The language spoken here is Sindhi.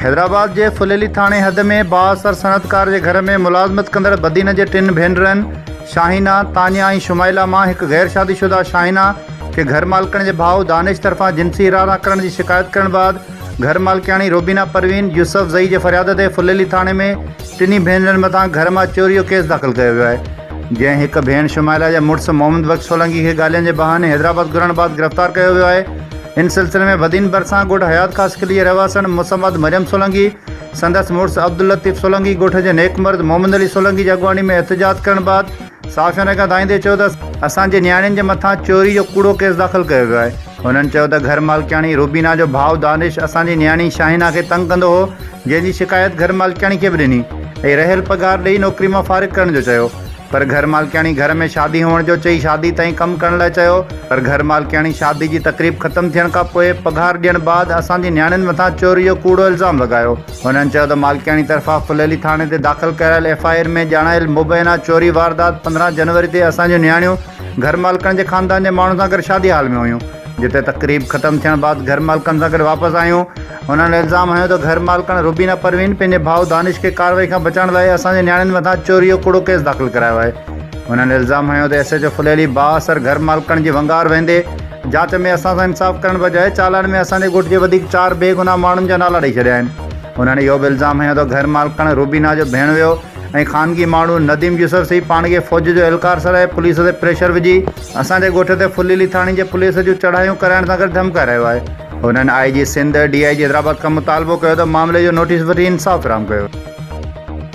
حيدرآباد جي ڦليلي ٿاڻي حد ۾ بااثر صنعتڪار جي گهر ۾ ملازمت ڪندڙ بدين جي ٽن ڀينرن شاهينه، تانيا ۽ شمائلا مان هڪ غير شادي شده شاهينه کي گهر مالڪڻ جي ڀاء دانش طرفان جنسي هيرانا ڪرڻ جي شڪايت ڪرڻ بعد گهر مالڪياڻي روبينا پروين يوسفزئي جي فرياد تي ڦليلي ٿاڻي ۾ ٽنهي ڀينرن مٿان گهر مان چوري جو ڪيس داخل ڪيو ويو آهي جنهن هڪ ڀيڻ شمائلا جي مڙس محمد بخش سولنگي کي گالين جي بهاني حيدرآباد گهرڻ بعد گرفتار ڪيو ويو آهي ان سلسلي ۾ بدين ڀرسان ڳوٺ حيات خاص قلعي جي رهواسڻ مصمد مريم سولنگي سندس مڙس عبداللطيف سولنگي ڳوٺ جي نيڪ مرد محمد علي سولنگي جي اڳواڻي ۾ احتجاج ڪرڻ بعد صحافين رڳا ڌائيندي چيو ته اسان جي نياڻين جي مٿان چوري جو ڪوڙو ڪيس داخل ڪيو ويو آهي هنن چيو ته گهر مالڪياڻي روبينا جو ڀاء دانش اسان جي نياڻي شاهينا کي تنگ ڪندو هو جنهن جي شڪايت گهر مالڪياڻي کي به ڏني ۽ رهيل پگهار ڏئي نوڪري مان فارغ ڪرڻ جو چيو پر گهر مالڪياڻي گهر ۾ شادي هئڻ جو چئي شادي تائين ڪم ڪرڻ لاء چيو پر گهر مالڪياڻي شادي جي تقريب ختم ٿيڻ کان پوء پگهار ڏيڻ بعد اسان جي نياڻين مٿان چوري جو ڪوڙو الزام لڳايو. هنن چيو ته مالڪياڻي طرفان ڦليلي ٿاڻي تي داخل ڪرايل ايف آء آر ۾ ڄاڻايل مبينا چوري واردات پندرهن جنوري تي اسان جون نياڻيون گهر مالڪڻ جي خاندان جي ماڻهن سان گڏ شادي هال ۾ هيون جتي تقريب ختم ٿيڻ بعد گهر مالڪڻ سان گڏ واپس آيون هنن الزام هنيو ته گهر مالڪڻ روبينا پروين پنهنجي ڀاء دانش کي ڪارروائي کان بچائڻ لاء اسان جي نياڻين مٿان چوري جو ڪوڙو ڪيس داخل ڪرايو آهي هنن الزام هنيو ته ايس ايڇ او ڦليلي بااثر گهر مالڪڻ جي ونگار ويندي جاچ ۾ اسان سان انصاف ڪرڻ بجاء چالان ۾ اسان جي ڳوٺ جي وڌيڪ چار بي گناهه ماڻهن جا نالا ڏئي ڇڏيا آهن. هنن اهو به الزام هنيو ته گهر مالڪڻ روبينا جو ڀيڻويو ۽ خانگي ماڻهو نديم يوسف سهي پاڻ کي فوج جو اهلڪار سڏائي پوليس تي پريشر وجهي اسان جي ڳوٺ تي ڦليلي ٿاڻي جي پوليس جون چڙهايون ڪرائڻ سان گڏ ڌمڪائي رهيو آهي. هنن آء جي سنڌ، ڊي آء جي حيدرآباد کان مطالبو ڪيو ته معاملي جو نوٽيس وٺي انصاف فراهم ڪيو.